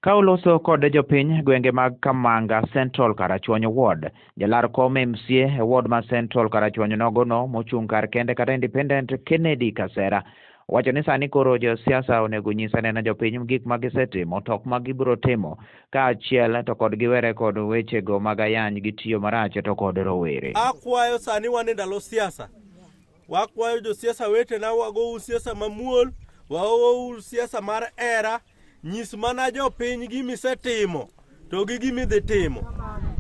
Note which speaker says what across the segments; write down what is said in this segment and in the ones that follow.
Speaker 1: Ka uloso kod jopiny gwenge mag Kamanga Central Karachuonyo Ward, jalar kom MCA e ward ma Central Karachuonyo nogono mochung' kar kende kata independent Kennedy Kasera wacho ni sani koro josiasa onego nyisa neno jopiny gik ma gisetimo to ok ma gibiro timo kaachiel to kod giwere kod wechego mag ayany gitiyo marach to kod rowere. Akwayo sani
Speaker 2: wan e ndalo siasa Wakwayo josiasa wetena wagou siasa mamuol, waou siasa mar era, nyis mana jopiny gima isetimo to gi gima idhi timo.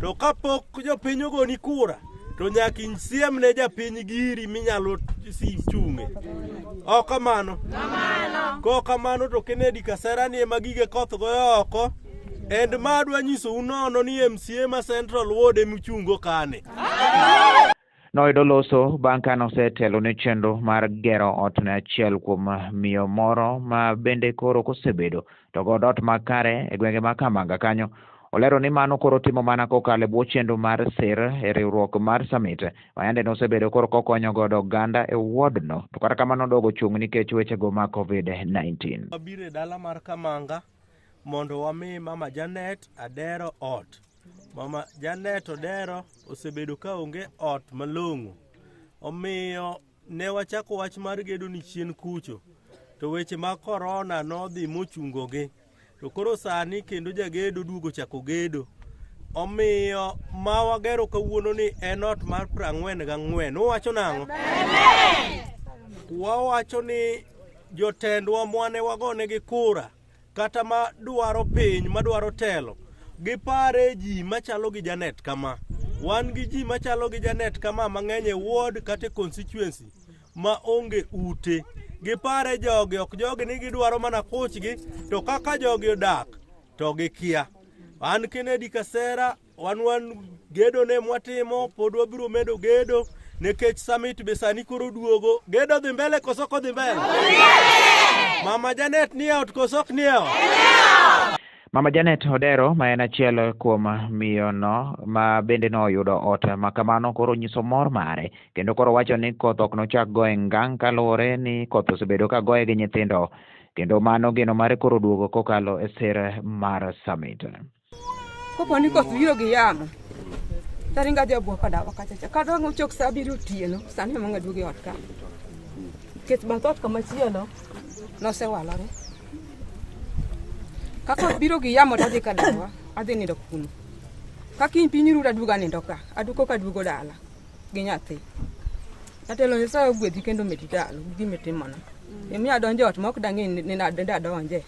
Speaker 2: To kapok jopiny ogoni kura, to nyaka isiem ne japiny giri minyalo si- chung'e. Ok kamano? Kok kamano to Kennedy Kasera ni ema gige koth goyo oko. And ma adwa nyisou nono ni MCA ma Central Ward ema uchungo kane.
Speaker 1: Noyudo loso bang' ka nosetelo ne chenro mar gero ot ne achiel kuom miyo moro ma bende koro kosebedo to god ot makare e gwenge ma Kamanga kanyo. Olero ni mano koro timo mana kokalo e bwo chenro mar sir e riwruok mar Summit ma yande nosebedo koro kokonyo godo oganda e wodno to kata kamano odogo chung' nikech wechego ma Covid-19. Wabiro e dala
Speaker 2: mar Kamanga mondo wami mama Janet adero ot. Mama Janet odero osebedo ka onge ot malong'o. Omiyo ne wachako wach mar gedo ni chien kucho. To weche mag korona nodhi mochungogi. To koro sani kendo jagedo duogo chako gedo. Omiyo ma wagero kawuono ni en ot mar prang'wen gang'wen. Uwacho nang'o? Wawacho ni Jotendwa mwane wagonegi kura kata ma dwaro piny ma dwaro telo gipare ji machalo gi Janet kama wan gi ji machalo gi Janet kama mang'eny e ward kata e constituency ma onge ute gipare jogi ok jogi ni gidwaro mana kuchgi to kaka jogi odak to gikia an Kennedy Kasera Wan wan gedo ne mwatimo pod wabiro medo gedo nikech summit be sani koro duogo. Gedo dhi mbele koso ko dhi mbele? Mama Janet ni out koso ok ni out?
Speaker 1: Mama Janet Odero ma en achiel kuom miyono ma bende noyudo ot ma kamano koro nyiso mor mare kendo koro wacho ni koth ok nochak goye ngang' kaluwore ni koth osebedo ka goye gi nyithindo kendo mano geno mare koro duogo kokalo e sir mar summit. Kopo
Speaker 3: ni koth biro gi yamo, taringo adhi abwa ka dawa kacha cha. Kata ang' ochok sa abiriyo otieno, sani ema ng'aduogo e ot ka. Nikech bath ot kamachielo nosewalore. Ka koth biro gi yamo tadhi ka dawa, adhi nindo kuno. Ka kiny piny ru taduogo anindo ka, aduko kaduogo dala. gi nyathi atelo nyasaye ogwedhi kendo medi dalo gi gima itimona emiyo adonjo ot ma ok dang'e ni ni nad- ni adonje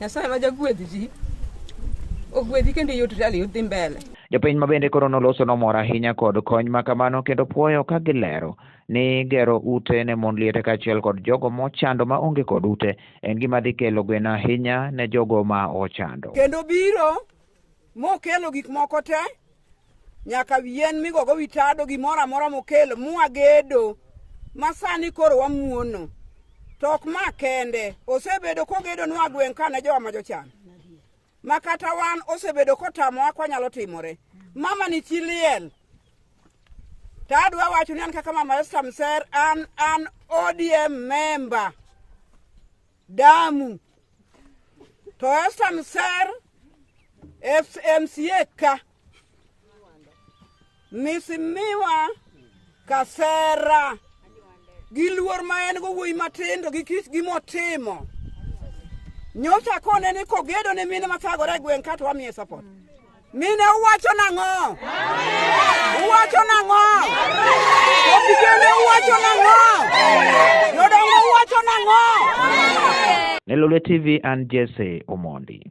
Speaker 3: nyasaye ma jagwedh ji ogwedhi kendo iyud rali udhi mbele Jopiny ma bende koro
Speaker 1: noloso nomor ahinya kod kony ma kamano kendo puoyo ka gilero ni gero ute ne mond liete kaachiel kod jogo mochando ma onge kod ute en gima dhi kelo gweno ahinya ne jogo ma ochando. kendo biro
Speaker 4: mokelo gik moko te nyaka yien migogo wi tado gimoro amora mokelo mwagedo ma sani koro wamuono to ok ma kende osebedo kogedo nwa gweng' kane jowa ma jochan ma kata wan osebedo kotamowa kwanyalo timore mama ni chi liel to adwa wacho ni an kaka mama esta mser an an odm member damu to Esther Mser FMCA ka misimiwa kasera gi luor ma en go wuoyi matindo gi kich gi motimo nyocha kone ni kogedo ne mine mathagore e gweng' kato wamiye support Mine uwacho nang'o? Uwacho nang'o? Opigene uwacho nang'o? Jodongo
Speaker 1: uwacho
Speaker 4: nang'o? Nelolwe
Speaker 1: TV and
Speaker 4: Jesse
Speaker 1: Omondi.